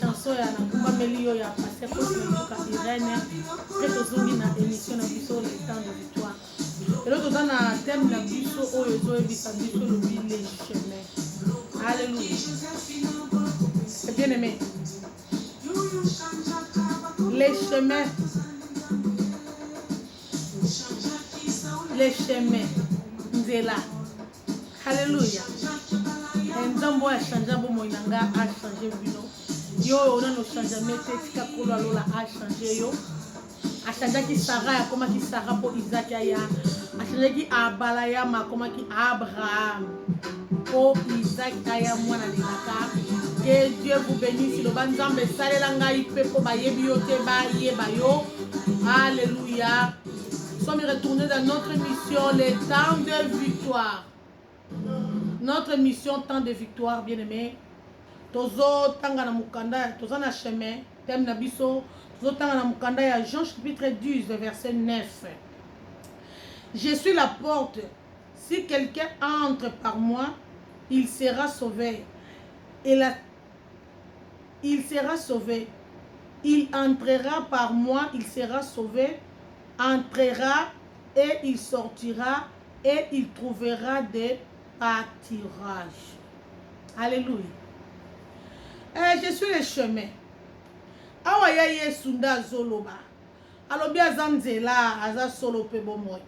chanson ya nakumbameli yo ya pasteur Cosme Luka Irène mpe tozongi na émission na biso le temps de victoire lelo toza na thème na biso oyo ezoyebisa biso lobi le chemin alleluia eh bien aimé le chemin le chemin nzela Hallelujah. Nzambe oyo achange bomoi na nga achange bino yo oyo nano changeme te tika kolo ya lola achange yo achangeaki sara akomaki sara mpo isaki aya achangeaki abalayama akomaki abraham mpo isaki aya mwana lelaka ke dieu vous benisi loba nzambe esalela ngai mpe mpo bayebi yo te bayeba yo aleluya Nous sommes retournés dans notre mission, les temps de victoire. Notre mission, temps de victoire, bien aimé. Tozo tanga na mukanda, tozo na chemin, thème na biso, tozo tanga na mukanda ya Jean chapitre 10, verset 9. Je suis la porte. Si quelqu'un entre par moi, il sera sauvé. Et la il sera sauve il entrera par moi il sera sauve entrera et il sortira et il trouvera de patirage alleluia eh, je suis le chemin awa ya yesu nde azoloba alobi aza nzela aza solo mpe bomoi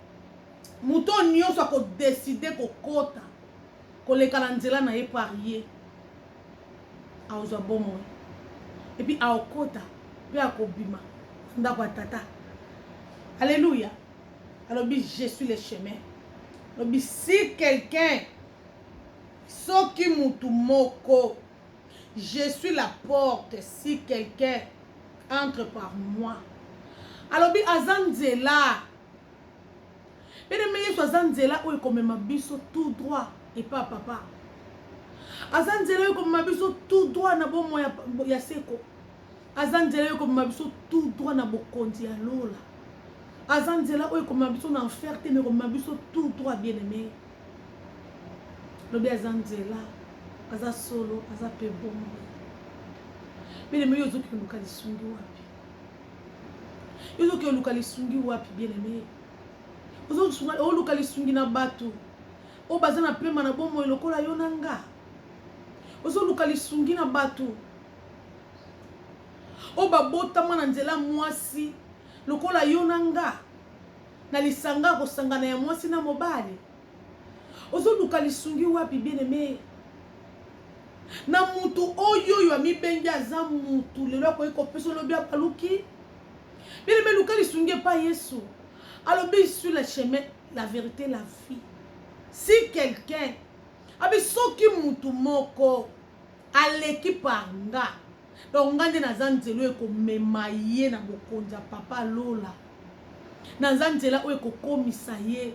moto oyo nyonso akodeside kokota koleka na nzela na ye par ye akozwa bomoi epuis akokota mpe akobima ndako ya tata alleluya alobi je suis le chemin alobi si quelqu'un soki mutu moko je suis la porte si quelqu'un entre par moi alobi aza nzela Bien aime Yesu aza nzela oyo ekomema biso tout droit epa ya papa. Aza nzela oyo ekomema biso tout droit na bomo ya, ya seko. Aza nzela oyo ekomema biso tout droit na bokonzi ya lola. Aza nzela oyo ekomema biso na enfer te, mais ekomema biso tout droit bien aime. Lobi aza nzela, aza solo, aza pe bomoi. Bien aime yo ozokende luka lisungi wapi? Yo ozoki oluka lisungi wapi bien aime? Oluka lisungi na batu oyo baza na pema na bomoi lokola yo na nga. Ozoluka lisungi na batu oyo babotama na nzela mwasi lokola yo na nga na lisanga ya kosangana ya mwasi na mobali. Ozo luka lisungi wapi bien aime na mutu oyo oyo amibengi aza mutu lelo akoki kopesa olobi abaluki bien aime luka lisungi epa yesu alobi sur le chemin la verite la vie si quelqu'un abi soki mutu moko aleki par nga donc nga nde naza nzela oyo ekomema ye na bokonzi ya papa lola naza nzela oyo ekokomisa ye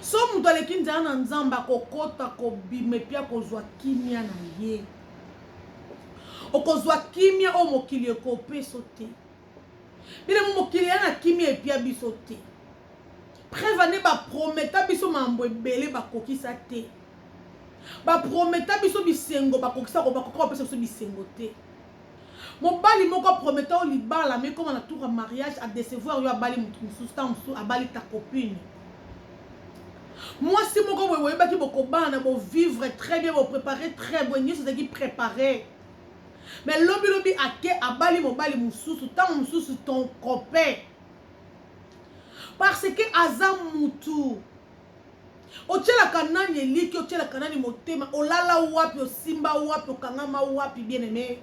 Soki moto aleki nzela na Nzambe, akokota, kobima epi akozwa kimia na ye. Okozwa kimia oyo mokili ekopeso te. Bilemo mokili ya na kimia epia biso te. Preuve ane baprometa biso mambo ebele bakokisa te. Baprometa biso bisengo bakokisa kobakoka kopesa biso bisengo te. Mobali moko a prometa yo libala mais ekoma na tour ya mariage a decevoir yo abali mutu mususu tango mususu abali ta copine. Mwasi moko boye boyebaki bokobana bo vivre très bien bo preparer très boye nionso ezalaki preparer mais lobi lobi ake abali mobali mususu tango mususu ton copain parce que aza mutu Otyelaka nani elikya? Otyelaka nani motema? Olala wapi? Osimba wapi? Okangama wapi? Bien aime,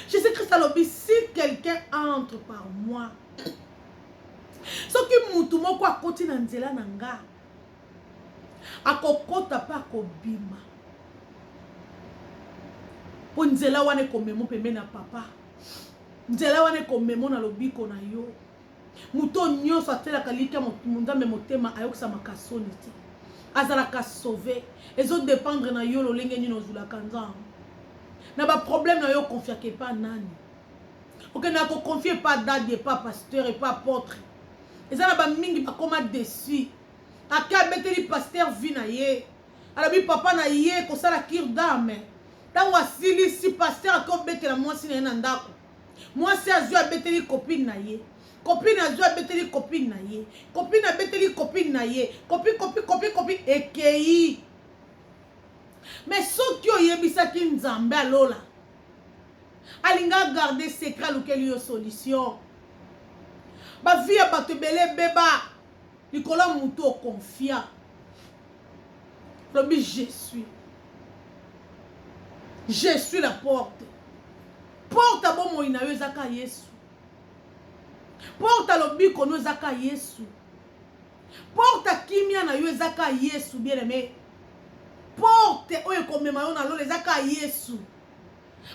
Jesus Christ alobi si quelqu'un entre par moi, soki mutu moko akoti na nzela na nga, akokota mpe akobima, mpo nzela wana ekomemo pembeni na Papa, nzela wana ekomemo na lobiko na yo. Moto oyo nyonso atielaka elikya Nzambe motema ayokisamaka soni te. Azalaka sauve. Ezo dependre na yo lolenge nini ozulaka Nzambe. Na ba problème na yo okonfiaka epa nani? Okendaka kokonfie epa dadi, epa pasteur, epa apotre. Eza na bamingi bakoma deçu. Ake abeteli pasteur vie na ye. Alobi papa na ye kosala cure d'âme. Ntango asilisi pasteur ake obetela mwasi na ye na ndako. Mwasi azui abeteli copine na ye. Copine azui abeteli copine na ye. Copine abeteli copine na ye. Copi copi copi copi ekeyi. Mais soki oyebisaki Nzambe alola alinga garder secret alukeli yo solution. Ba vie ya bato ebele ebeba likolo ya mutu o confia. lobi je suis je suis la porte porte ya bomoi na yo ezaka yesu porte ya lobiko no ezaka yesu porte ya kimia na yo ezaka yesu bien aime porte oyo ekomema yo na lola ezaka yesu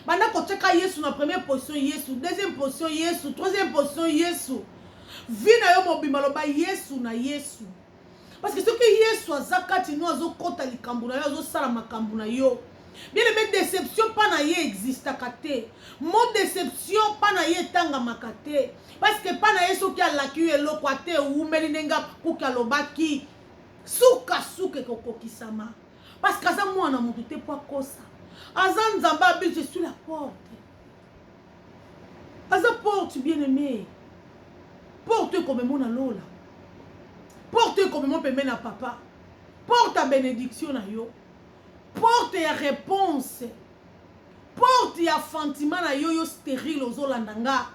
banda kotyaka yesu na première position yesu deuxième position yesu troisième position yesu vi na yo mobimba loba yesu na yesu Parce que soki Yesu aza kati no azokota likambo na yo azosala makambo na yo bien aimé déception mpa na ye existaka te mo déception mpa na ye etangamaka te parce que mpa na ye soki alaki yo eloko ata ewumeli ndenge kuki alobaki sukasuka ekokokisama parce que aza mwana moto te mpo akosa aza nzambe abili je suis la porte Aza porte bien aime. Porte oyo komemo na lola. Porte oyo komemo pembe na papa. Porte ya benediction na yo. Porte ya reponse. Porte ya fantima na yo yo sterile ozolanda nga.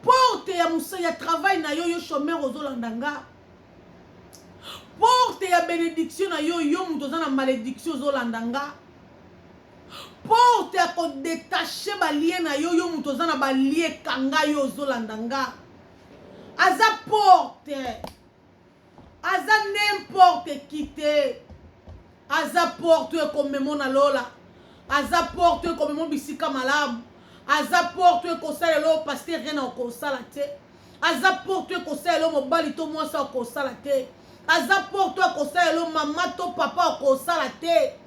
Porte ya musa ya travail na yo yo chômeur ozolanda nga. Porte ya benediction na yo yo moto oza na malediction ozolanda nga. Porte ya ko detacher ba liens na yo, yo mutu oza na ba liens kanga yo ozo landa nga. Aza porte. Aza n'importe qui te. Aza porte oyo ekomemo na lola. Aza porte oyo ekomemo bisika malamu. Aza porte oyo ekosala eloko pasteur rien akosala te. Aza porte oyo ekosala eloko mobali to mwasi akosala te. Aza porte oyo akosala eloko mama to papa akosala te. Aza porte,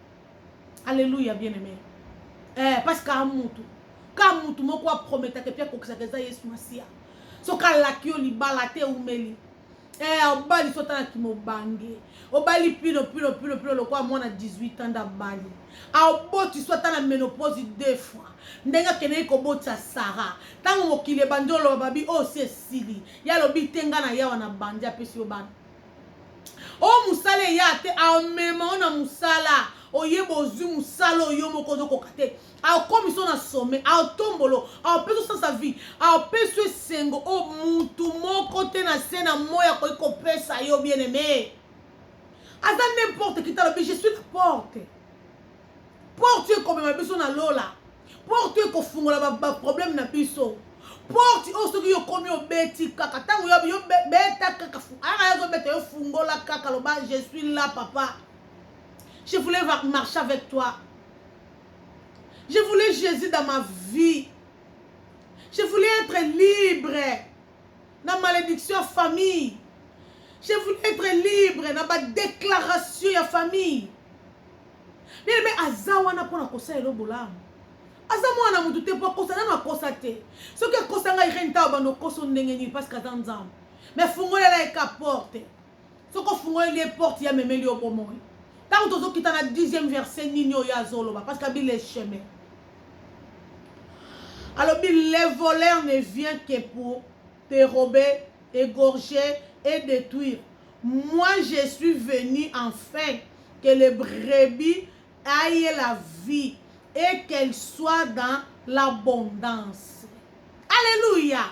Alleluia bien aime. Eh, parce que mutu. Ka mutu moko a prometaka et puis akokisaka eza Yesu Masia. Soki alaki yo libala te umeli. Eh, obali sota na kimobange. Obali pilo pilo pilo pilo lokola mwana 18 ans ndabali. Aoboti sota na menopause deux fois. ndenge akendeki kobotisa sara ntango mokili ebandi oloba babi oyo oh, si esili ye alobi te ngai na yawa na bandi apesi yo bana Oyo musala eya te amema yo na musala oyeba ozwi musala oyo yo moko ozokoka te akomisa na sommet aotombolo aopesa osansa vie aopesa esengo oyo mutu moko te na se na moi akoki kopesa yo bien aime aza n'importe qui talobi je suis la porte Porte oyo ekomema biso na lola. Porte oyo ekofungola ba, ba problème na biso. Porte oyo soki yo komi obeti kaka tango yo yo beta kaka aka ah, yazo beta yo fungola kaka loba je suis là papa. Je voulais marcher avec toi. Je voulais Jésus dans ma vie. Je voulais être libre na malédiction famille. Je voulais être libre na ba déclaration ya famille. bien aime aza wana mpona kosala elo bolamu aza mwana na motu te mpo akosa nano akosa te soki akosa ngai reine tao bando okoso ndenge nini parce que aza nzambe mais fungolela ye ka porte soki ofungoleli ye porte ya memeli yo bomoi ntango tozokita na dixième verset nini oyo azoloba parce que abile chemin alobi le voleur ne vient que pour dérober égorger et détruire moi je suis venu enfin que le brebis aie la vie et qu'elle soit dans l'abondance alleluia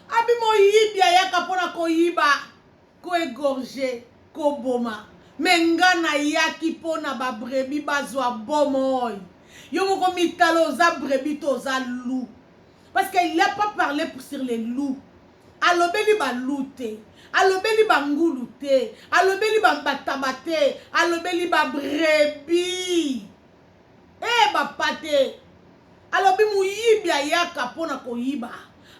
abi moyibi ayaka pona koyiba ko egorge koboma me nga nayaki pona ba brebis bazwa bomoi yo moko mitala oza brebis to oza loup parce qu'il a pas parle sur les loups Alobeli ba loups te, alobeli ba ngulu te, alobeli ba mbataba te, alobeli ba brebis eh ba pate. Alobi moyibi ayaka mpo na koyiba,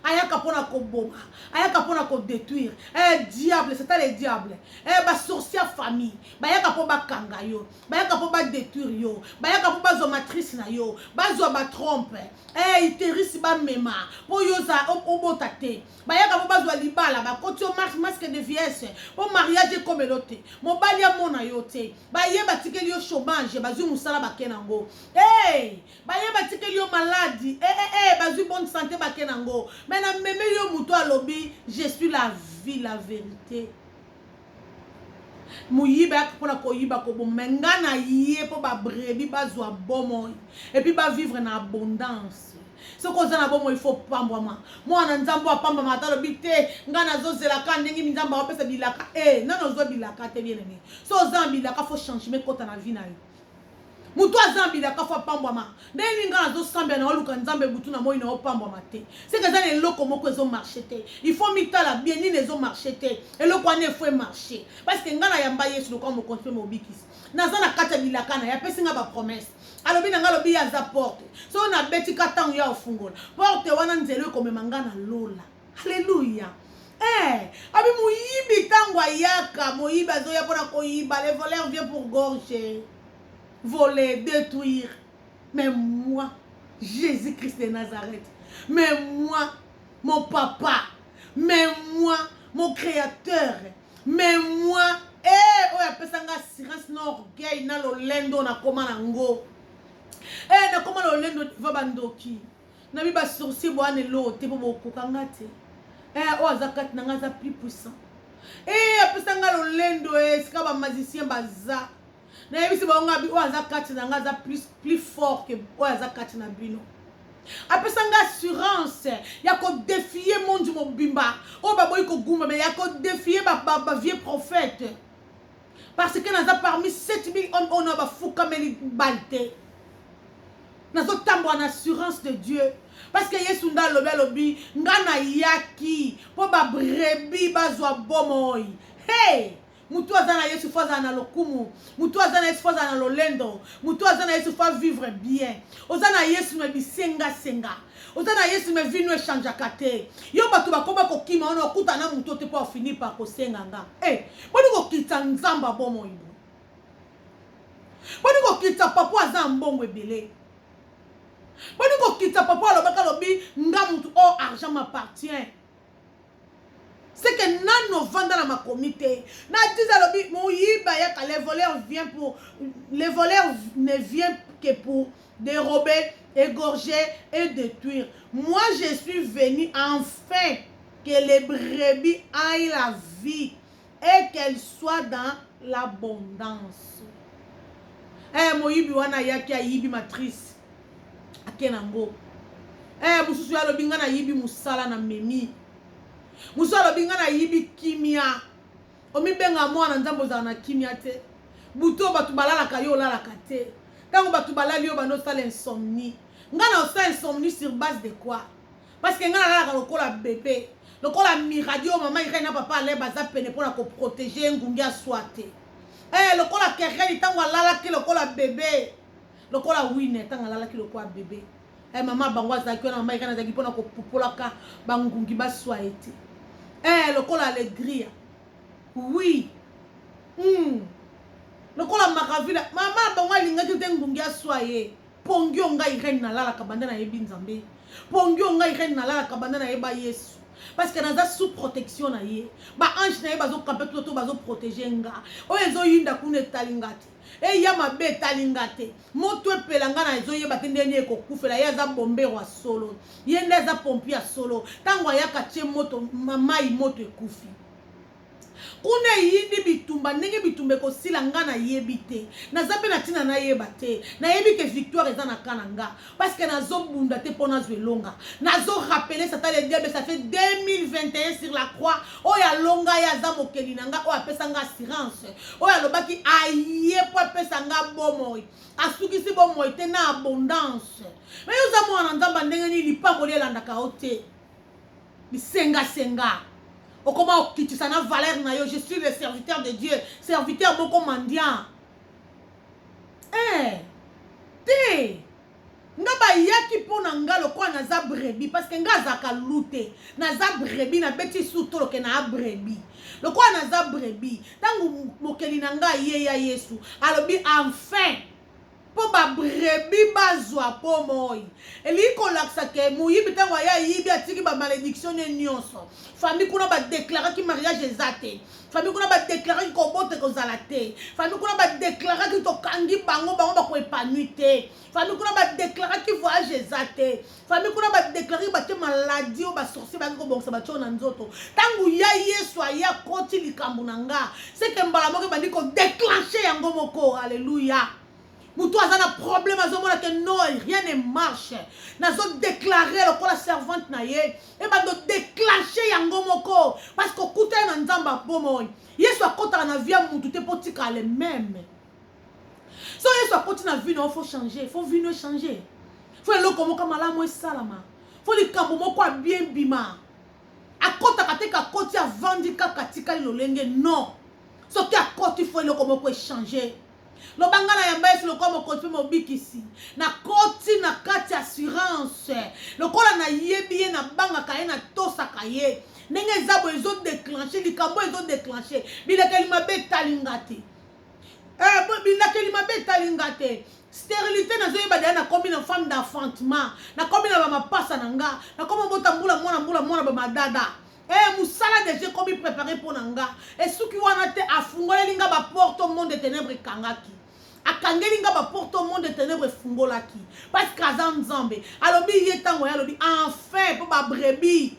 ayaka mpo na koboma, ayaka mpo na ko detruire eh diable, c'est le diable eh ba sorciers ya famille bayaka mpo bakanga yo. bayaka mpo badetruire yo bayaka mpo bazwa matrice na yo bazwa batrompe hey, eh, iterise bamema mpo yo oza obota te bayaka mpo bazwa libala bakoti yo masque de viese mpo mariage ekomelo te mobali amona yo te baye batikeli yo chômage bazwi mosala bake nango hey, eh, baye batikeli yo maladi hey, eh, hey, hey, bazwi bonne sante bake nango me na memeli yo moto alobi je suis la vie la vérité moyibi ayaka mpo na koyiba koboma me nga na ye mpo ba brebis bazwa bomoi epuis ba vivre na abondance soki oza na bomoi fo opambwama mwana na nzambe apambama ata alobi te nga nazozela ka ndenge minzambe aopesa bilaka e eh, nano ozwa bilaka te bien aime so oza na bilaka fo changement ekota na vi na yo moto aza mbila kafu apambwama ndenge nga nazosambela na oluka nzambe butu na moi na opambwama te seke eza na eloko moko ezomarche te il faut mitala bien nini ezomarche te eloko wana efo emarche parceke nga nayamba yesu lokola mokonzi mpe mobikisi naza na kati ya bilaka na ye apesi nga bapromese alobi na nga alobi ye aza porte soki nabeti ka ntango ya ofungola porte wana nzela ekomema nga na lola Alléluia. Eh, abi moyibi tango ayaka, moyibi azoya pona koyiba, le voleur vient pour gorger, voler, détruire. Mais moi, Jésus-Christ de Nazareth, mais moi, mon papa, mais moi, mon créateur, mais moi, eh, oyo apesa nga assurance na orgueil na lolendo nakoma nango. Eh, nakoma lolendo devant bandoki. na mi ba sourcier boa ne lo te po bokoka nga te eh oyo aza kati na nga aza plus puissant eh apesa nga lolendo eh sika ba magicien baza nayebisi bango nga oyo aza kati na nga aza plus plus fort que oyo aza kati na bino apesa nga assurance ya kodefie monji mobimba oyo baboyi kogumbama ya kodefie bavie ba, ba prophète Parce que naza parmi 7000 hommes oyo na bafukameli bal te. Nazo tambola na assurance de Dieu. Parce que Yesu nda alobi alobi nga na yaki po ba brebis bazwa bomoi. Hey! Mutu aza na Yesu fo azala na lokumu. Mutu aza na Yesu fo azala na lolendo. Mutu aza na Yesu fo vivre bien. Oza na Yesu me bisenga senga. oza na yesu me vino echangeaka te yo bato bakoma kokima wana okuta na moto te mpo afini par kosenga nga e eh, boni kokitisa nzambe abomoi bo boni kokitisa papa aza ya mbongo ebele boni kokitisa papa alobaka alobi nga motu o oh, argent m'appartient seke nanu ovanda na makomi te na tiza alobi moyiba yaka le voleur vient pour le voleur ne vient que pour dérober égorger et détruire moi je suis venu enfin que les brebis aillent la vie et qu'elle soit dans l'abondance eh moyibi wana ayaki ayibi matrice ake nango eh mosusu ye alobi ngai nayibi mosala na memi mosusu alobi ngai nayibi kimia omibenga mwana nzambe ozala na kimia te buto bato balalaka yo olalaka te ntango bato balali yo banda osala insomnie ngai na osala insomnie sur base de quoi Parce que nga nalalaka lokola bebe. Lokola miradi oyo mama Irène na papa Alain baza pene mpo na ko proteger ngungi aswa te. Eh lokola Kereni tango alalaki lokola bebe. Lokola Wine tango alalaki lokola bebe. Eh mama bango azalaki wana mama Irène azalaki mpo na kopupolaka ba ngungi baswa ye te. Eh lokola Alegria. Oui. Hmm. Lokola Maravilla. Mama bango alingaki te ngungi aswa ye. pongi oyo ngai reine nalalaka banda nayebi nzambe pongi oyo ngai reine nalalaka banda nayeba yesu parce que naza sous protection na ye baange na ye bazokampe to to bazoprotege nga oyo ezoyinda kuna etali nga te eya eh, mabe etali nga te moto epela nga na ezoyeba te ndenge nini ekokufela ye aza bombero ya solo ye nde aza pompi ya solo ntango ayaka tie moto mai moto ekufi Kuna eyindi bitumba ndenge bitumba ekosila nga na yebi te naza pe na tina na yeba te na yebi ke victoire eza na camp na nga parce que nazo bunda te po nazwa elonga nazo rappeler satan le diable ça fait 2021 sur la croix oyo alonga ye aza mokeli na nga oyo apesa nga assurance oyo alobaki aye po apesa nga bomoi asukisi bomoi te na abondance mais yo oza mwana na nzambe ndenge nini lipamboli elandaka yo te Bisenga senga. Okoma okitisa na valeur na yo, je suis le serviteur de Dieu, serviteur moko mendiant. Eh, te. Nga bayaki mpo na nga lokola naza brebi parce que nga azaka lute naza brebi nabeti su toloke na brebi lokola naza brebi ntango mokeli na nga ye ya yesu alobi enfin Mpo ba brebis bazwa bomoi. Elingi kolakisa que moyibi tango aye ayibi atiki ba malediction ne nionso. Famille kuna ba declaraki mariage eza te. Famille kuna ba declaraki kobota ekozala te. Famille kuna ba declaraki tokangi bango, bango bako epanouis te. Famille kuna ba declaraki voyage eza te. famille kuna badeklare bake maladi oyo basorcier bake kobongisa batio na nzoto ntango ya yesu aye akoti likambo na nga seke mbala moko ebandi kodeclenche yango moko alleluya moto aza na problème azomona ke non rien ne marche nazodeklare lokola servante na ye ebando declenche yango moko parce que okutani na nzambe abomoi yesu akotaka na vie ya motu te mpo tika le meme soki yesu akoti na vie na yo fo change fo vie no echange fo eloko moko malamu esalama fo likambo moko ya bien bima akotaka te kakoti avandi kaka atikali lolenge non soki akoti fo eloko moko echange loba ngai na yamba yesu lokola mokonzi mpe mobikisi nakoti na kati ya assurance lokola nayebi ye nabangaka ye natosaka ye ndenge eza boye ezodeclenche likambo ezodeclenche bilekeli mabe etali nga te Eh, bo- bilakeli mabe etali nga te sterilité nazoyeba deya nakomi na femme d'enfantement nakomi na bamapasa na nga nakomi obota mbula mwana mbula mwana bamadada Eh, mosala deja ekomi prépare mpo na nga esuki wana te afungoleli nga baporte monde ténèbre ekangaki akangeli nga baporte o monde ténèbre efungolaki parce que aza nzambe alobi ye ntango ye alobi enfin mpo babrebis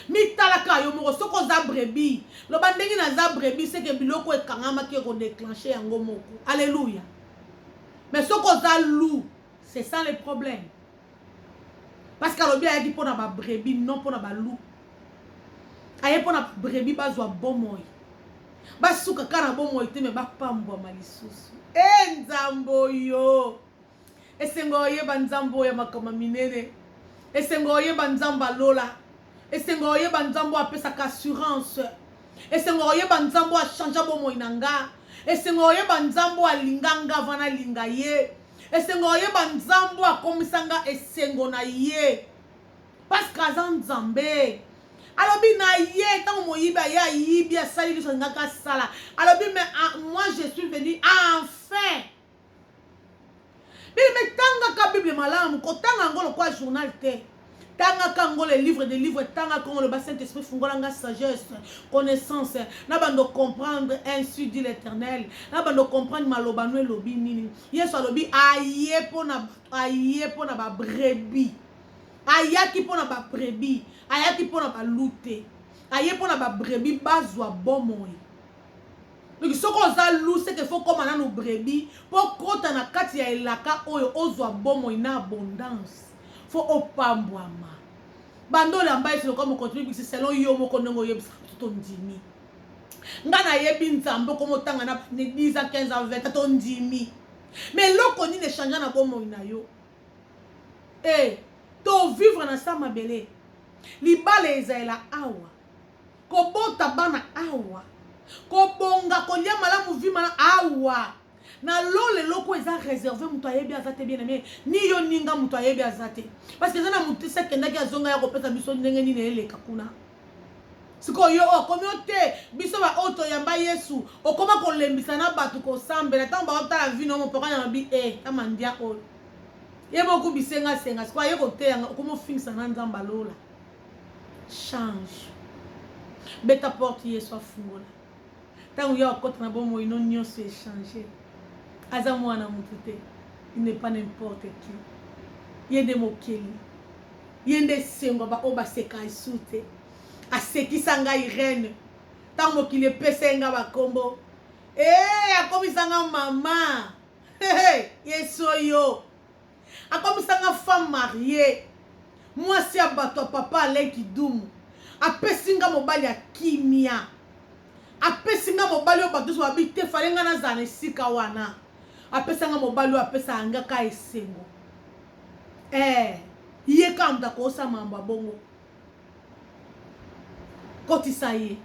mitalaka yo moko soki oza brebis loba ndenge naza brebis seke biloko ekangamaki ekodeclenche yango moko alleluya mais soki oza lou c'est ça le problème parce que alobi ayaki mpo na babrebis non mpo na balou aye mpo na babrebis bazwa bomoi basuka kaka na bomoi te me bapambwama lisusu e eh, nzambo yo Esengo oyeba Nzambe oyo ya makama minene. Esengo oyeba Nzambe alola. Esengo oyeba Nzambe oyo apesaka assurance. Esengo oyeba Nzambe oyo achangea bomoi na nga. Esengo oyeba Nzambe oyo alinga nga avant nalinga ye. Esengo oyeba Nzambe oyo akomisa nga esengo na ye. Parce que aza Nzambe. alobi na ye ntango moyibi aye ayibi asali liso alingaki asala alobi mais ah, moi je suis venu enfin Bien-aimé, tangaka Bible malamu, kotanga yango lokola journal te. tangaka yango le livre de livre tangaka yango loba saint esprit fungola nga sagesse connaissance na bando comprendre ainsi dit l'éternel na bando comprendre maloba no elobi nini yesu alobi aye mpo na aye mpo na babrebi ayaki mpo na babrebi ayaki mpo na balute aye mpo na babrebi bazwa bomoi Donc soki oza loup c'est que faut koma nanu brebis po kota na kati ya elaka oyo ozwa bomoi na abondance faut opambwama bando olamba ete lokola mokonzi mibikisi selon yo moko ndenge oyebisaka biso tondimi nga nayebi nzambe okoma otanga na 10 ans 15 ans 20 tondimi me eloko nini echangea na bomoi na yo e eh, tovivre na sa mabele libala ezalela awa kobota bana awa kobonga kolia malamu vie mala awa na lola eloko eza reserve moto ayebi aza te bien aime ni yo ninga moto ayebi aza te parce que eza na motisi akendaki azonga ya kopesa biso ndenge nini eleka kuna sikoyo yo okomi o te biso baoyo toyamba yesu okoma kolembisa na bato kosambela ntango baotala vino mopoko na mabi e eh, amandia oyo ye bokubisengasenga sikoyo aye koteyanga okomi ofingisa na nzambe alola Change. Beta porte Yesu afungola. Tango ya okota na bomoi no nionso e changer. Aza muana mutu te. Il n'est pas n'importe qui. Ye nde mokeli. Ye nde esengo ya ba oyo ba seka Yesu te. Asekisa nga Irene. Tango mokili epesa ye nga ba kombo. Eh akomisa nga mama. Hey, hey, Yesu oyo. Akomisa nga femme mariee. Mwasi ya bato ya papa Alain Kidumu. Apesi nga mobali ya kimia. Apesi nga mobali oyo bato nionso balobi te fallait nga nazala na esika wana. Apesa nga mobali oyo apesaka nga ka esengo. Eh ye kaka moto akoki kosala makambo ya bongo. Kotisa ye.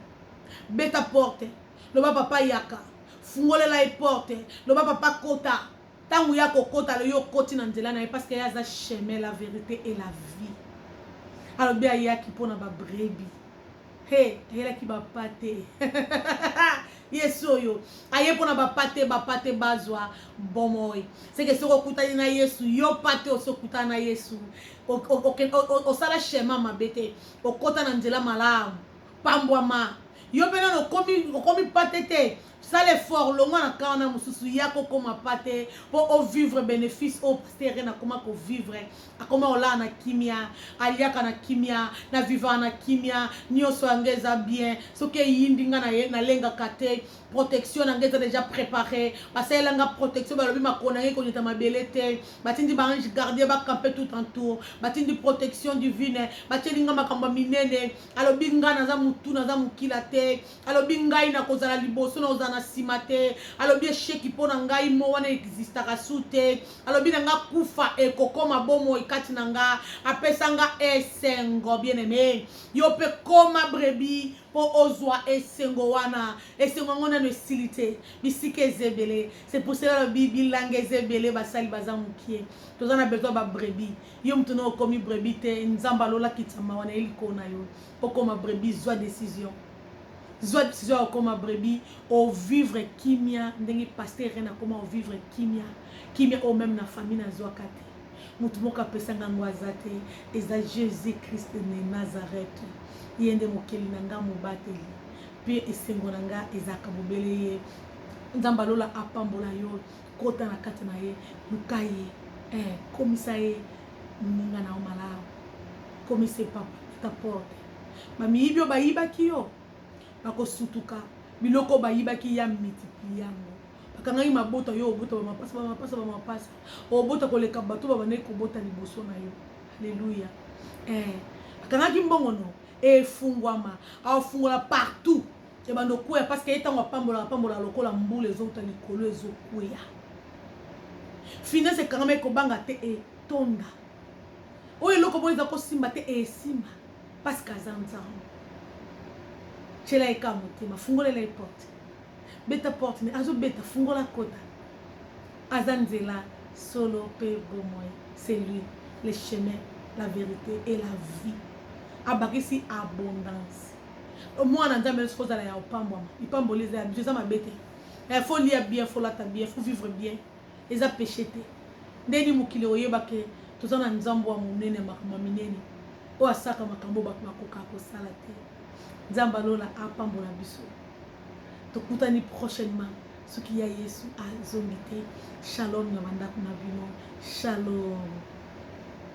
Beta porte. Loba papa yaka. Fungolela ye porte. Loba papa kota. Tangu ya ko kota alobi yo koti na nzela na ye parce que ya za chemin la verite et la vie. Alobi ayaki pona ba brebi. He, ayelaki ba pate. Yesu oyo aye pona ba pate ba pate bazwa bomoi. Seke soko kutani na Yesu yo pate oso kutana na Yesu osala chemin mabe te okota na nzela malamu pambwama yo mpe nano okomi pate te Sala effort longwa na camp wana mususu ya ko koma pa te po o vivre benefice oyo pasteur Ren akoma ko vivre akoma kolala na kimia aliaka na kimia na vivaka na kimia nioso ya nga eza bien soki eyindi nga na ye na lengaka te protection na nga eza dejà prepare basalela nga protection balobi makolo na nga ekonyata mabele te batindi ba ange gardien ba campe tout en tour batindi protection divine batieli nga makambo ya minene alobi nga naza mutu naza mokila te alobi ngai nakozala liboso nakozala na nsima te alobi esheki mpo na ngai mo wana existaka su te alobi na nga kufa ekokoma bomoi kati na nga apesa nga esengo bien aime yo mpe koma brebi mpo ozwa esengo wana esengo yango nano esili te bisika eza ebele se pour cela alobi bilanga eza ebele basali baza mokie toza na besoin babrebi yo moto na okomi brebi te nzambe alolakitama wana ye likolo na yo okoma brebis zwa decision zwa decision ya okoma brebis ovivre kimia ndenge paster rene akoma ovivre kimia kimia oyo meme na famille nazwaka te motu moko apesanga yango aza te eza jésus christ ne nazareth ye nde mokeli na ngai mobateli mpe esengo na ngai ezalaka bobele ye nzambe alola apambola yo Kota na kati na ye, luka ye eh, komisa ye muninga na yo malamu, komisa ye papa, beta porte, ba miyibi oyo bayibaki yo bako sutuka, biloko oyo bayibaki ya multiplier yango, bakangaki mabota yo obota ba mapasa, ba mapasa, ba mapasa, obota koleka bato babandaki kobota liboso na yo, alleluia eh, bakangaki mbongo no, efungwama, afungola partout. Ebanda okweya parce que ye ntango apambolaka apambolaka lokola mbula ezouta likolo ezokweya finance ekangama ekobanga te etonda oyo eloko moko eza kosimba te esimba parce que aza nzambe tyela ye ka motema fungolela ye porte beta porte me azobeta fungola kota aza nzela solo mpe bomoi c'est lui le chemin la vérité et la vie abakisi abondance O muana nzambe nionso kozala ya opambwama lipamboli eza ya biso eza mabe te eh, faut lia bien faut lata bien faut vivre bien eza peche te ndeni mokili okoyeba ke toza na nzambe wa monene makambo ya minene oyo asalaka makambo bato bakoka kosala te nzambe alola apambola biso tokutani prochainement soki ya yesu azongi te shalom ya bandako na bino shalom